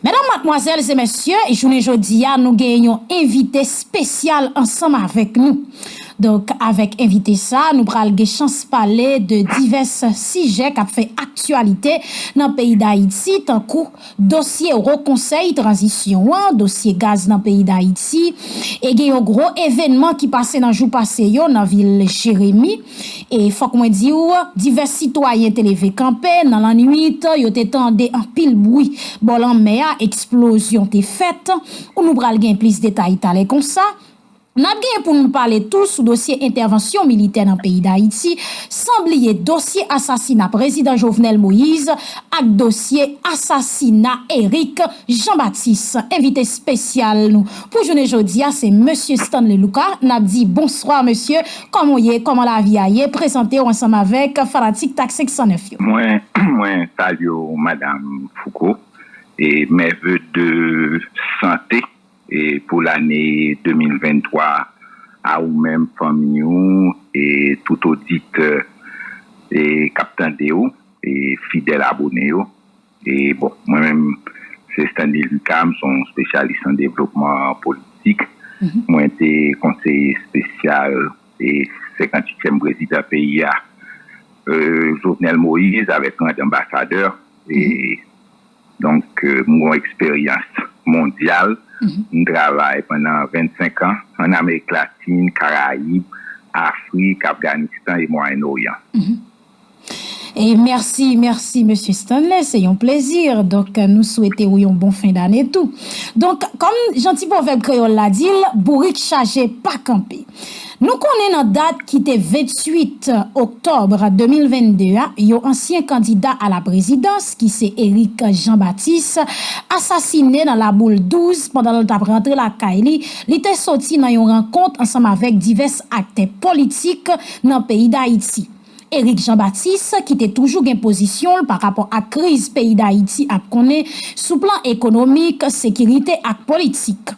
Medam, matmwazèl e mesye, jounen jodi a nou gen yon envite spesyal ansanm avèk nou. Donk avèk envite sa nou pral gen chans pale de divès sijè kap fè aktyalite nan peyi Dayiti tankou dosye Wo Konsèy Tranzisyon an, dosye gaz nan peyi Dayiti e gen yon gwo evènman ki pase nan jou pase yo nan vil Jeremi. E fòk mwen di w, divès sitwayen te leve kanpe nan lannuit, yo te tande anpil bwi bò lanmè a, eksplozyon te fèt, nou pral gen plis detay talè konsa. N ap gen pou nou pale tou sou dosye entèvansyon militè nan peyi Dayiti, san bliye dosye asasina prezidan Jovenel Moïse ak dosye asasina Eric Jean Baptiste. Envite spesyal nou pou jounen jodi a se Mesye Stanley Lucas, n ap di bonswa mesye. Kòman w ye, kòman lavi a ye, prezante w ansanm avèk fanatik tak 509 yo. Mwen mwen salye w madam Fouco e mes vœux de santé e pou lane 2023 a ou menm fanmiy ou e tout oditè e kap tande w e fidèl abone yo. E bon, mwen menm se Stanley Lucas, m se yon spesyalis an devlopman politik. Mwen te konseye espesyal 58 tyèm prezidan peyi a Jovenel Moïse avèk rang danbasadè. Donk m gen yon eksperyans mondyal. M travay pandan 25 an an Amerik Latin, Karayib, Afrik, Afganistan e Mwayen Oryan. Merci merci Mesye Stanley se yon plezi donk nou swete ou yon bon fen dane tou donk kòm jan ti pwovèb kreyòl la di l bourik chaje pa kanpe nou konnen nan dat ki te 28 oktòb 2022 a yon ansyen kandida a la prezidans ki se Eric Jean Baptiste asasine nan la boule 12 pandan l t ap rantre lakay li li te soti nan yon rankont ansanm avèk divès aktè politik nan peyi Dayiti. Eric Jean Baptiste ki te toujou gen pozisyon l pa rapò ak kriz peyi Dayiti ap konnen sou plan ekonomik, sekirite ak politik.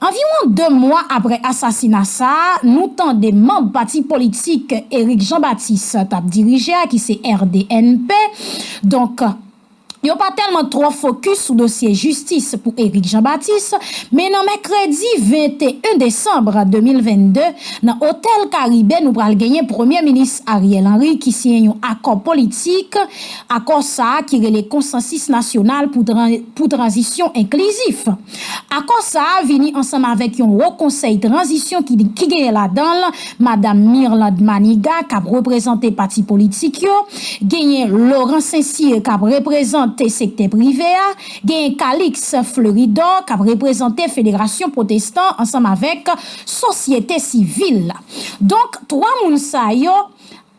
Anviwon 2 mwa aprè asasina sa a, nou tande manb pati politik Eric Jean Baptiste t ap dirije a ki se RDNP, donk, Yo pa tèlman twò fokis sou dosye jistis pou Eric Jean Baptiste, men nan mèkredi 21 desanm 2022, nan otèl Karibe nou pral genyen Premye Minis Ariel Henry ki siyen yon akò politik, akò sa ki rele Konsansis Nasyonal pou Tranzisyon Enklizif. Akò sa vini ansanm avèk yon Wo Konsèy Tranzisyon ki genyen ladan l Madam Mirlande Maniga k ap reprezante pati politik yo, genyen Laurent Saint-Cyr k ap reprezan te sektè prive a, genyen Calix Fleuridor k ap reprezante federasyon pwotestan ansanm avèk sosyete sivil la. Donk, twa moun sa yo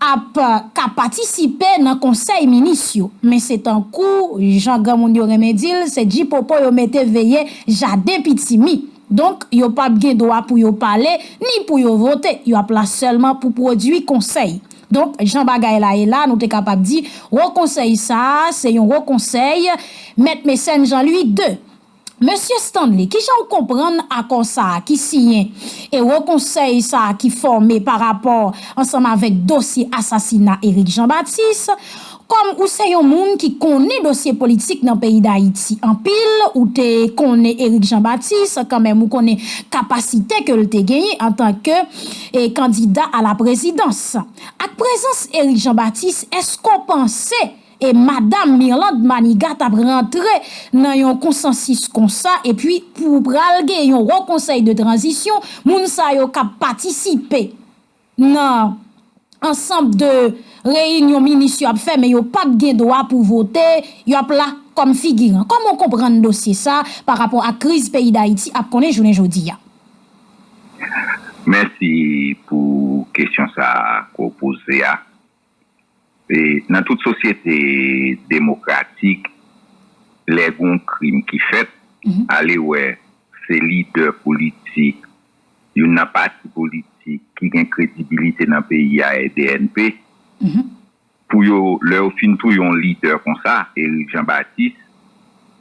ap ka patisipe nan konsèy minis yo, men se tankou jan granmoun yo renmen di l, se djipopo yo mete veye jaden pitimi. Donk, yo pap gen dwa pou yo pale, ni pou yo vote, yo ap la sèlman pou pwodui konsèy. Donk, jan bagay la ye la, nou te kapab di, wo konsèy sa a, se yon wo konsèy, Mèt Mecène Jean Louis ii. Mesye Stanley, ki jan ou konprann akò sa a ki siyen e Wo Konsèy sa a ki fòme pa rapò ansanm avèk dosye asasina Eric Jean Baptiste? Kòm ou se yon moun ki konnen dosye politik nan peyi Dayiti anpil, ou te konnen Eric Jean Baptiste, kanmenm ou konnen kapasite ke l te genyen antanke kandida a la prezidans. Ak prezans Eric Jean Baptiste, èske w panse E madam Mirlande Manigat t ap rantre nan yon konsansis konsa epi pou pral gen yon wo konsèy de tranzisyon moun sa yo k ap patisipe nan ansanb de reyinyon minis yo ap fè men yo p ap gen dwa pou vote yo ap la kòm figiran. Kòman w konprann dosye sa pa rapò ak kriz peyi Dayiti ap konnen jounen jodi a? Mèsi pou kesyon sa a ke w poze a. Nan tout sosyete demokratik, lè gen yon krim ki fèt, alewè se lidè politik, youn nan pati politik ki gen kredibilite nan peyi a, RDNP, pou yo, lè yo fin touye yon lidè konsa, Eric Jean Baptiste,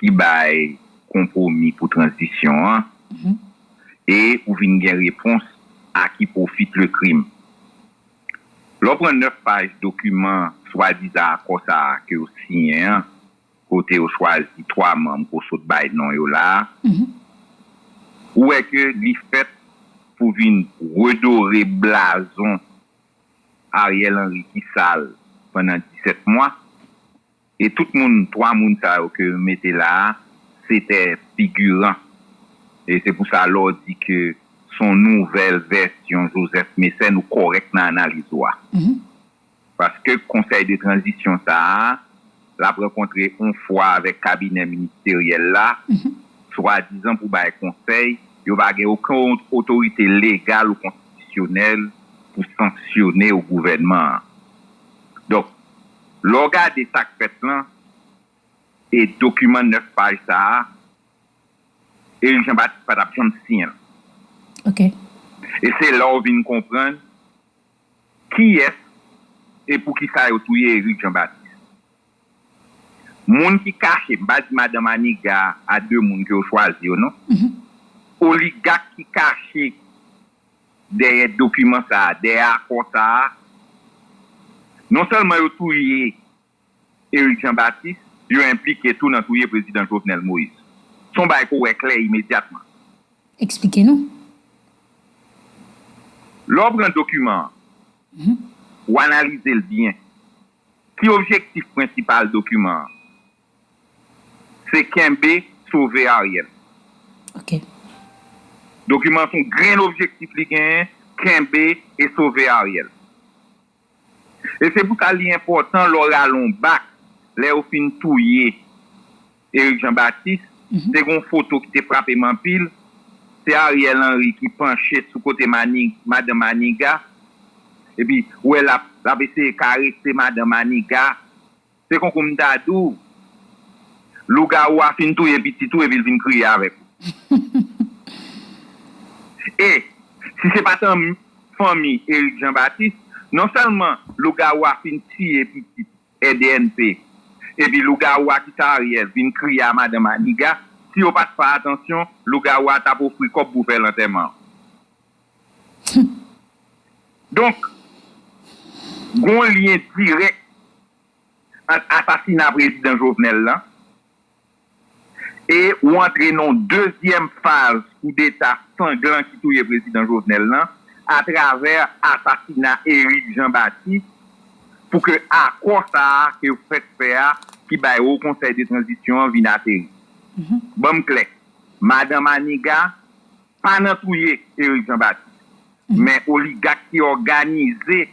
ki bay konpwomi pou tranzisyon an e ou vin gen repons a ki pwofit le krim. Lè w pran 9 paj dokiman swadizan akò sa a ke yo siyen an, kote yo chwazi 3 manm ke w sot bay non yo la a, ou wè ke li fèt pou vin redore blazon Ariel Henry ki sal pandan 17 mwa. E tout moun 3 moun sa yo ke mete la se tè figuran e se pou sa lè w di ke son nouvèl vèsyon Joseph Mécène ou kòrèk nan analiz ou a. Paske konsèy de tranzisyon sa a l ap rankontre on fwa avèk kabinè ministeryèl la swadizan pou bay konsèy yo pa gen oken otorite legal ou konstitisyonèl pou sanksyone ou gouvènman an. Donk. Lè w gade sa k fèt lan e dokiman 9 paj sa a, Erik Jan Batis pa t ap janm siyen l. E se la w vin konprann kiyès e pou ki sa yo touye Erik Jan Batis. Moun ki kache, m pa di madan Maniga a 2 moun ke yo chwazi yo non, oligak ki kache dèyè dokiman sa a, dèyè akò sa a, non sèlman yo touye Eric Jean Baptiste, yo enplike tou nan touye Prezidan Jovenel Moïse. Se yon bagay ke w wè klè imedyatman. Eksplike nou. Lè w pran dokiman an, w analize l byen, ki objektif prensipal dokiman an? Se kenbe sove Ariel. Ok. Dokiman son grenn objektif li genyen, kenbe e sove Ariel. E se pou sa li enpòtan lè w rale yon bak, lè yo fin touye Eric Jean Baptiste, te gen yon foto ki te frape m anpil, se Ariel Henry ki panche sou kote madan Maniga, epi ou wè l ap eseye karese madan Maniga. Se konkou m ta di w. Lougawou a fin touye pitit ou epi l vin kriye avèk ou. E, si se pa t anmi fanmi Erik Janbatis, non sèlman lougawou a fin tiye pitit EDNP epi lougawou a ki se Ariel vin kriye a madan Maniga, si yo pa t fè atansyon, lougawou a t ap ofri kòb pou fè lantèman an. Donk, gon lyen dirèk ant asasina Prezidan Jovenel lan e ou antre nan yon dezyèm faz koudeta sanglan ki touye Prezidan Jovenel lan atravè asasina Eric Jean Baptiste pou ke akò sa a ke yo fèk fè a ki bay Haut Conseil de Transition an vin ateri. Ban m klè, Madan Maniga, Pa nan touye Eric Jean Baptiste, men oligak ki òganize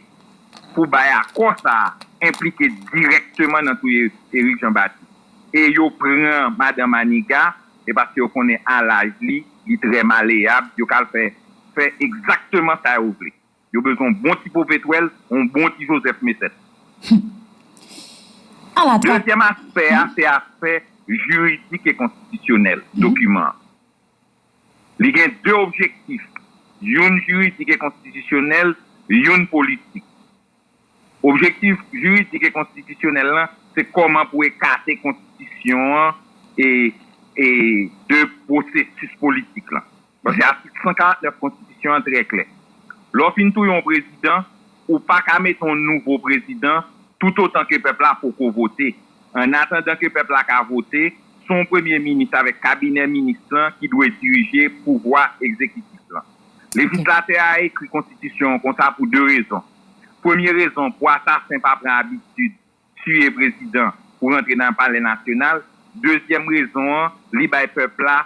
pou bay akò sa a enplike dirèkteman nan touye Eric Jean Baptiste. E yo pran madan Maniga, e paske yo konnen a laj li, li trè maleyab, yo ka al fè fè egzakteman sa yo vle. Yo bezwen yon bon ti popetwèl, yon bon ti Joseph Mécène. Hum! A la trap! Dezyèm aspè a se aspè jiridik e konstitisyonèl dokiman an. Li gen 2 objektif, youn jiridik e konstitisyonèl, youn politik. Objektif jiridik e konstitisyonèl lan se kòman pou ekate konstitisyon an de pwosesis politik lan. Paske atik 149 konstitisyon an trè klè. Lè w fin touye yon prezidan, ou pa ka mete yon nouvo prezidan toutotan ke pèp la poko vote. Ann atandan ke pèp la ka vote, se yon premye minis avèk kabinè minis lan ki dwe dirije pouvwa egzekitif lan. Lejislatè a ekri konstitisyon an konsa pou 2 rezon. Premye rezon pou asasen pa pran abitid tiye prezidan pou rantre nan palè nasyonal. Dezyèm rezon an, li bay pèp la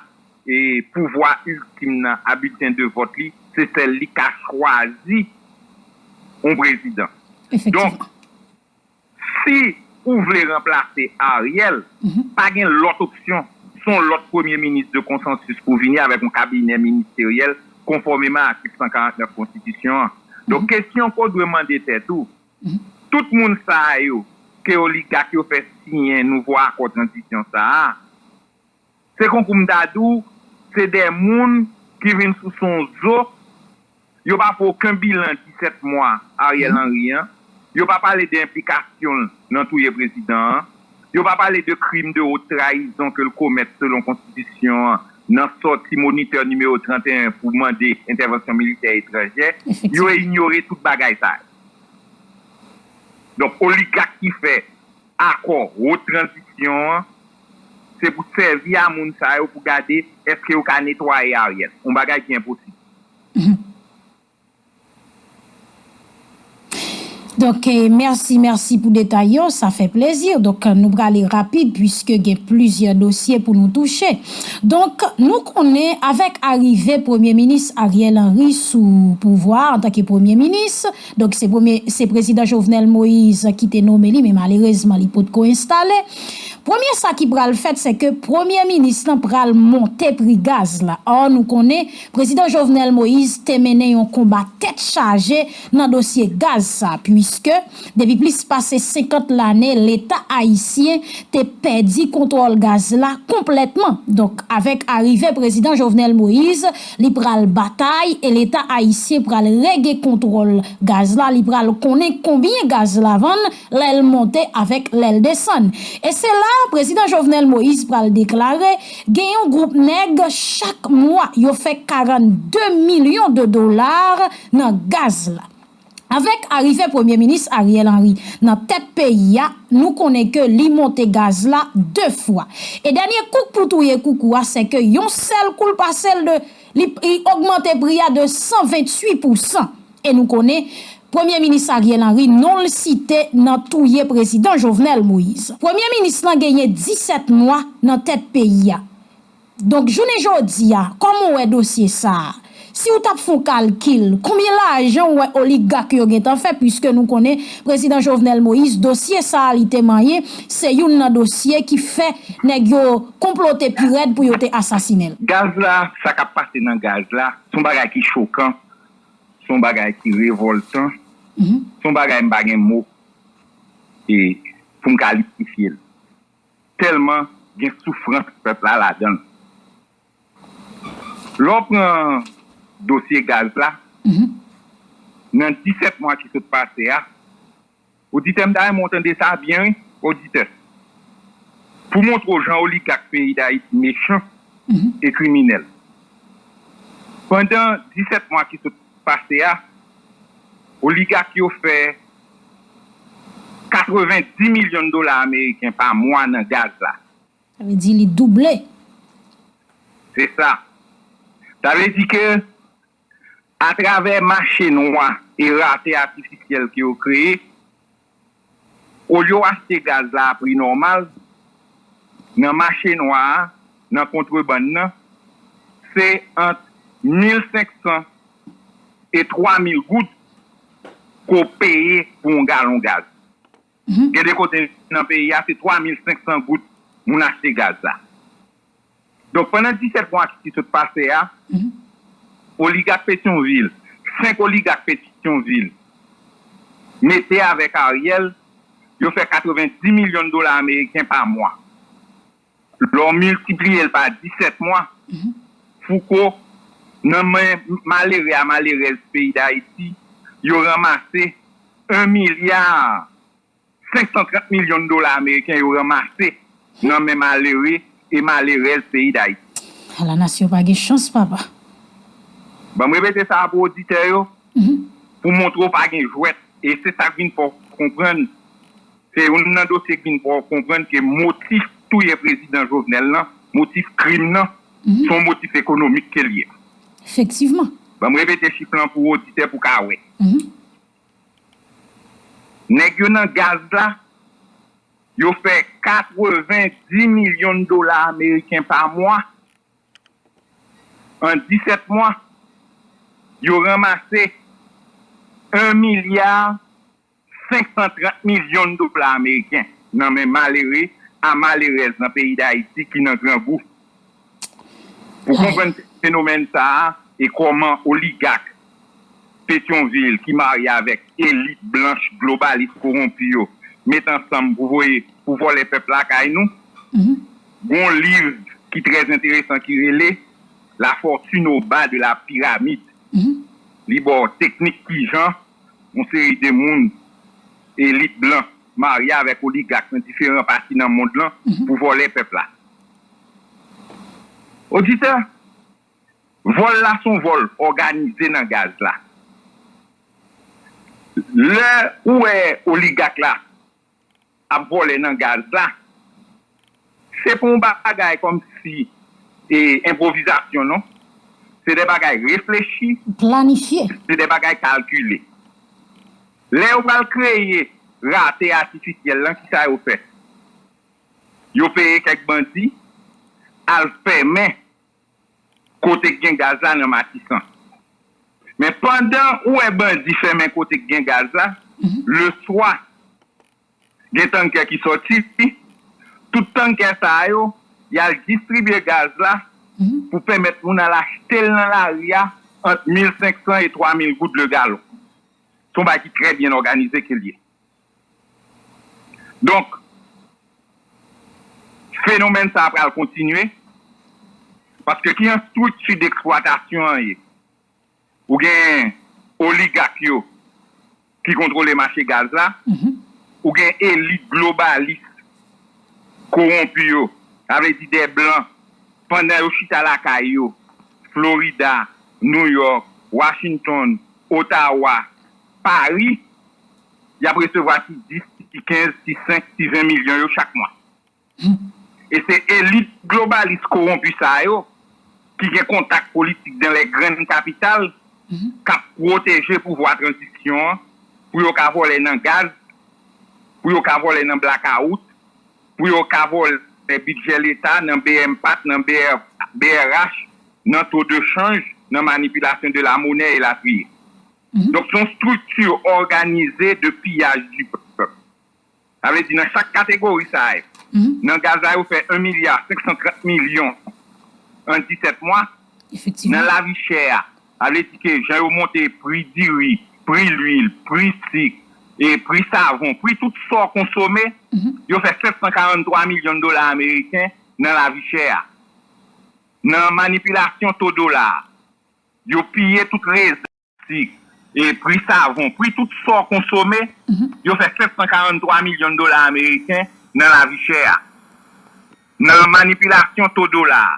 pouvwa iltim nan a bilten de vòt li, se sèl li k ka chwazi yon prezidan. Donk. Si ou vle ranplase Ariel, pa gen lòt opsyon, son lòt premye minis de konsansis pou vini avèk yon kabinè ministeryèl konfòmeman atik 149 konstitisyon an. Donk kesyon ke w dwe mande tèt ou, tout moun sa yo ke oligak yo fè siyen nouvo akò tranzisyon sa a, Se konkou m ta di w, se de moun ki vin sou son zo, yo pa fè oken bilan 17 mwa Ariel Henry an, yo pa pale de enplikasyon l nan touye prezidan an, yo pa pale de krim de wot trayizon ke l komèt selon konstitisyon an nan sòti monitè nimewo 31 pou mande entèvansyon militè etranjè, yo inyore tout bagay sa yo. Donk oligak ki fè. Akò wot tranzisyon an se pou sèvi a moun sa yo pou gade eske yo ka netwaye Ariel. Yon bagay ki enposib. Donk mèsi mèsi pou detay yo sa fè plezi donk nou prale rapid puiske gen plizyè dosye pou nou touche donk nou konnen avèk arive premye minis Ariel Henry sou pouvwa a antanke premye minis. Donk se premye se prezidan Jovenel Moise ki te nome li men malerezman li pot ko enstale. Premye sa ki pral fèt se ke premye minis lan pral monte pri gaz la. Or nou konnen prezidan Jovenel Moise te mennen yon konba tèt chaje nan dosye gaz sa puiske depi plis pase 50 lane leta ayisyen te pèdi kontwòl gaz la konplètman. Donk avèk arive prezidan Jovenel Moise Li pral batay e leta ayisyen pral rege kontwòl gaz la li pral konnen konbyen gaz la vann lè l monte avèk lè l desann. E se la prezidan Jovenel Moïse pral deklare gen yon gwoup nèg chak mwa yo fè 42 milyon de dolar nan gaz la. Avèk arive premye minis Ariel Henry nan tèt peyi a, nou konnen ke li monte gaz la 2 fwa. E dènye kouk pou touye koukou a se ke yon sèl kou l pase l de, li ogmante pri a de 128 pousan. E nou konnen premye minis Ariel Henry non l site nan touye prezidan Jovenel Moïse. Premye minis lan genyen 17 mwa nan tèt peyi a. Donk jounen jodi a, kòman w wè dosye sa a? Si w t ap fè yon kalkil, konbyen lajan w wè oligak yo gentan fè piske nou konnen Prezidan Jovenel Moïse dosye sa a li te manyen se youn nan dosye ki fè nèg yo konplote pi rèd pou yo te asasinen l? Gaz la, sa k ap pase nan gaz la, se yon bagay ki chokan, se yon bagay ki revòltan, se yon bagay m pa gen mo pou m kalitifye l. Tèlman gen soufrans pèp la ladan l. Lè w pran dosye gaz la, nan 17 mwa ki sot pase a, oditè m ta renmen w tande sa byen wi, oditè, pou m montre w jan oligak peyi Dayiti mechan e kriminèl. Pandan 17 mwa ki sot pase a, oligak yo fè 90 milyon dola ameriken pa mwa nan gaz la. Sa vle di li double. Se sa. Sa vle di ke atravè mache nwa e rate atifisyèl ke yo kreye, olye yo achte gaz la a pri nòmal, nan mache nwa a, nan kontrebann nan, se ant 1500. e 3 mil goud ke w peye pou yon galon gaz. Gen de kote nan peyi a se 3 mil 500 goud moun achte gaz la. Donk pandan 17 mwa ki sot pase a, oligak Petyonvil, 5 oligak Petyonvil mete avèk Ariel, yo fè 90 milyon dola ameriken pa mwa. Lè w miltipliye l pa disèt mwa, Fouco, nan men malere a malerèz peyi Dayiti, yo ranmase 1 milya 530 milyon dola ameriken yo ranmase nan men malere e malerèz peyi Dayiti. A la nasyon pa gen chans papa. Ban m repete sa a pou oditè yo, pou montre w pa gen jwèt. E se sa k vin fè w konprann. Se youn nan dosye k vin fè w konprann ke motif touye prezidan Jovenel lan, motif krim nan, se yon motif ekonomik ke l ye. Efektivman. Ban m repete chif lan pou oditè pou ka wè. Nèg yo nan gaz la, yo fè 90 milyon dola ameriken pa mwa. An 17 mwa, yo ranmase 1 milya. 530 milyon dola ameriken nan men malere a malerèz nan peyi Dayiti ki nan grangou. Pou konprann fenomèn sa a e kòman oligak Petyonvil ki marye avèk elit blanch globalis kowonpi yo met ansanm pou voye pou vòlè pèp lakay nou, gon liv ki trè enteresan ki rele La fortune au bas de la pyramide. Li ba w teknik kijan. yon seri de moun elit blan marye avèk oligak nan diferan pati nan mond lan pou vòlè pèp la. Oditè, vòl la son vòl òganize nan gaz la. Lè ou wè oligak la ap vole nan gaz la se pou yon bagay kom si e enpwovizasyon non se de bagay reflechi se de bagay kalkile lè yo pral kreye rate atifisyel lan kisa yo fè yo peye kek bandi al femen Kote k gen gaz la nan matisan. Men pandan ou wè bandi fèmen kote k gen gaz la, leswa gen tankè ki sòti, tout tankè sa yo y al distribye gaz la pou pèmèt moun al achte l nan lari a ant 1500 e 3000 goud le galon. Se yon bagay ki trè byen òganize ke l ye. Donk, fenomèn sa a pral kontinye, paske ki jan estrikti deksplwatasyon an ye, ou gen oligak yo ki kontwole mache gaz la, ou gen elit globalis kowonpi yo, sa vle di dè blan, pandan yo chita lakay yo, Florida, New York, Washington, Ottawa, Paris, y ap resevwa ti 10, ti 15, ti 5, ti 20 milyon yo chak mwa. E se elit globalis kowonpi sa yo ki gen kontak politik dan lè grann kapital k ap pwoteje pouvwa tranzisyon an pou yo ka vòlè nan gaz, pou yo ka vòlè nan blakawout, pou yo ka vòlè bidjè leta nan bmpat, nan brh, nan to de chanj, nan manipilasyon de la monè, elatriye. Donk se yon strikti òganize de piyaj di pèp. Sa vle di nan chak kategori sa yo, nan gaz la yo fè 1 milya 530 milyon an 17 mwa. Nan lavi chè a, sa vle di ke jan yo monte pri diri, pri lwil, pri sik, pri savon, pri tout sa w konsome, yo fè 743 milyon dola ameriken nan lavi chè a. Nan manipilasyon to dola a. Yo piye tout rezèv plastik, pri savon, pri tout sa w konsome, yo fè 743 milyon dola ameriken nan lavi chè a. Nan manipilasyon to dola a,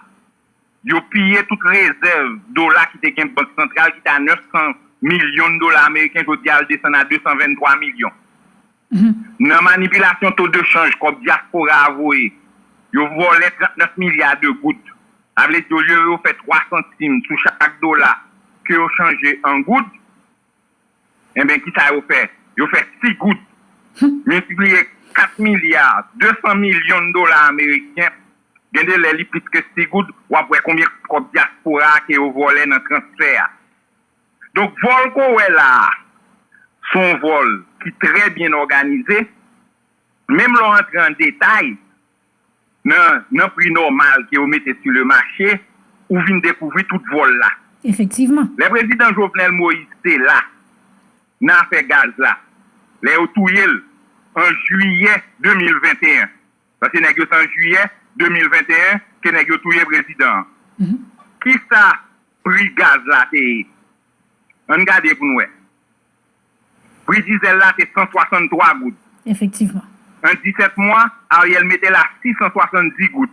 yo piye tout rezèv dola ki te gen bank santral ki te a 900 milyon dola ameriken, jodi a l desann a 223 milyon. Nan manipilasyon to de chanj kòb dyaspora a voye, yo vòlè 39 milya de goud. Sa vle di olye yo fè 3 santim sou chak dola ke yo chanje an goud, enben kisa yo fè? Yo fè 6 goud miltipliye 4 milya 200 milyon dola ameriken, gen de lè li plis ke 6 goud, w ap wè konbyen kòb dyaspora a ke yo vòlè nan transfè a. Donk vòl ke w wè la a, se yon vòl ki trè byen òganize. Menm lè w antre an detay nan pri nòmal ke yo mete sou le mache, ou vin dekouvri tout vòl la. Efektivman. Lè prezidan Jovenel Moïse te la nan afè gaz la, lè yo touye l an jiyè 2021, Sa se nèg yo se an jiyè 2021 ke nèg yo touye prezidan an. Kisa pri gaz la te ye? Ann gade pou n wè. Pri dizèl la te 163 goud. Efektivman. An 17 mwa, Ariel mete l a 670 goud.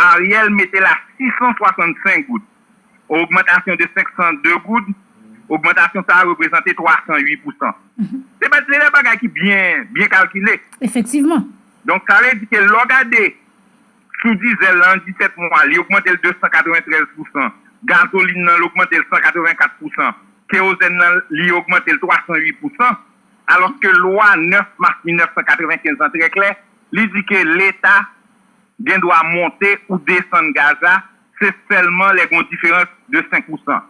Ariel mete la 665 goud, on ogmantasyon de 502 goud, ogmantasyon sa a reprezante 308 pousan. Se pa de bagay ki byen byen kalkile. Efektivman. Donk sa vle di ke lè w gade sou dizèl la an 17 mwa li ogmante l 293 pousan, gazolin nan l ogmante l 184 pousan, kerozèn nan li ogmante l 308 pousan, alòske lwa 9 mas 1995 lan trè klè, li di ke leta gen dwa monte ou desann gaz la se sèlman lè gen yon diferans de 5 pousan.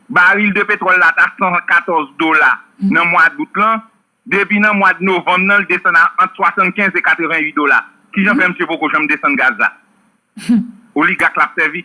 Baril de petwòl la ta 114 dola nan mwa dout lan, depi nan mwad novanm nan li desann a ant 75 e 88 dola. Kijan fè msye poko janm desann gaz la? Oligak lap sèvi?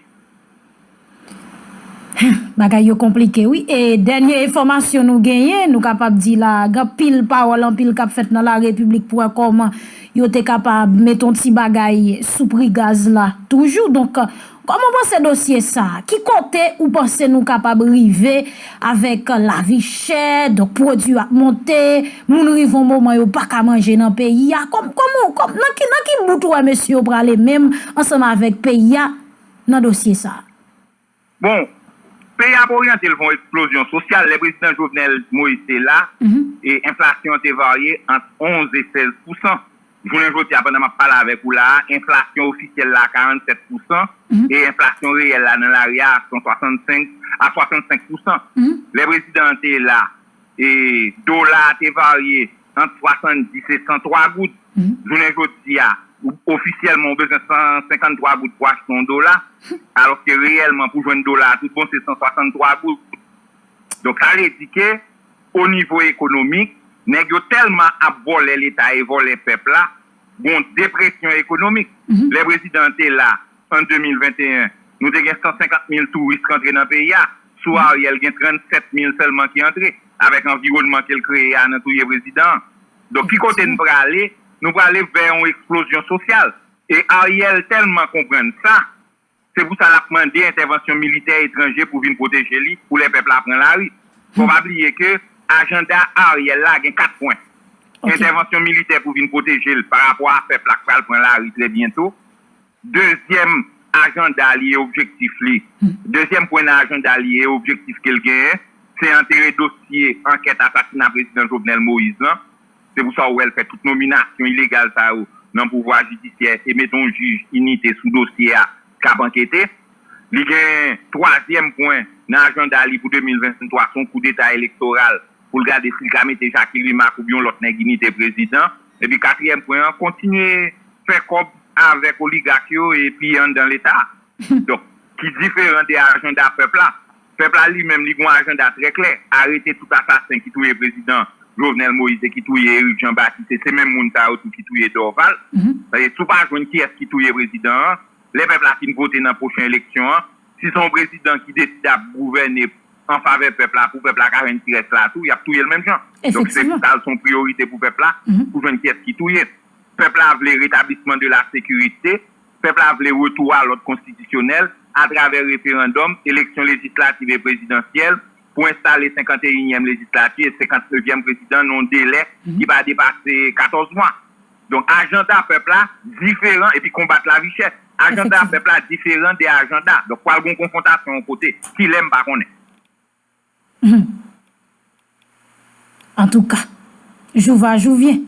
Bagay yo konplike wi e dènye enfòmasyon nou genyen nou kapab di la a gen anpil pawòl anpil k ap fèt nan larepiblik pou wè kòman yo te kapab met yon ti bagay sou pri gaz la toujou donk kòman w panse dosye sa a ki kote ou panse nou kapab rive avèk lavi chè donk pwodui yo ap monte moun rive yon moman yo pa ka manje nan peyi a kòman nan ki bout ou wè mesye yo prale menm ansanm avèk peyi a. nan dosye sa a. Bon, peyi a ap oryante l vè yon eksplozyon sosyal. Lè prezidan Jovenel Moïse te la, enflasyon an te varye ant 11 e 16 pousan. Jounen jodi a, pandan m ap pale avèk ou la a, enflasyon ofisyèl la a 47 pousan e enflasyon reyèl la nan lari a a 65 a 65 pousan. Lè prezidan an te la, dola a te varye. ant 70 e 103 goud. Jounen jodi a, ofisyèlman ou bezwen 153 goud pou achte yon dola, alòske reyèlman pou jwenn dola a tout bon se 163 goud. Donk sa vle di ke onivo ekonomik, nèg yo tèlman ap vòlè leta e vòlè pèp la, gon depresyon ekonomik. Lè prezidan an te la an 2021, nou te gen 150 mil touris k antre nan peyi a. Sou Ariel gen 37 mil sèlman ki antre. Avèk anviwònman ke l kreye a nan touye prezidan an. Donk ki kote n prale? Nou prale vè yon eksplozyon sosyal. E Ariel tèlman konprann sa, Se pou sa l ap mande entèvansyon militè etranje pou vin pwoteje li pou lè pèp la pran lari. Fò w pa bliye ke ajanda Ariel la gen 4 pwen. Entèvansyon militè pou vin pwoteje l pa rapò a pèp la k pral pran lari trè byento. Dezyèm ajanda li e objektif li, dezyèm pwen nan ajanda li e objektif ke l genyen, se antere dosye ankèt asasina Prezidan Jovenel Moïse lan Se pou sa ou wè l fè tout nominasyon ilegal sa yo nan pouvwa jidisyè e mete yon jij inite sou dosye a k ap ankete. Li gen twazyèm pwen nan ajanda li pou 2023, se yon koudeta elektoral pou l gade si l ka mete Jacqueline Marc oubyen lòt nèg inite prezidan. Epi katriyèm pwen an, kontinye fè kòb avèk oligak yo epi anndan leta a. Donk, ki diferan de ajanda pèp la. Pèp la li menm li gon ajanda trè klè, arete tout asasen ki touye prezidan Jovenel Moïse e ki touye Eric Jean Baptiste e se menm moun sa yo tou ki touye Dorval. Paske si w pa jwenn kiyès ki touye prezidan an, lè pèp la fin vote nan pwochen eleksyon an, si se yon prezidan ki deside ap gouvène an favè pèp la pou pèp la ka jwenn ti rès la tou, y ap touye l menm jan. Donk se pou sa l se yon priyorite pou pèp la pou jwenn kiyès ki touye. Pèp la vle retablisman de la sekirite. Pèp la vle retou a lòd konstitisyonèl, atravè referandòm, eleksyon lejislativ e prezidansyèl, pou enstale senkanteyinyèm lejislati e senkantnevyèm prezidan nan yon delè ki pa depase 14 mwa. Donk ajanda pèp la diferan, epi konbat lavichè, ajanda pèp la diferan de ajanda. Donk pral gen yon konfwontasyon yon kote. Kilè, m pa konnen. Antouka. Jou va jou vyen.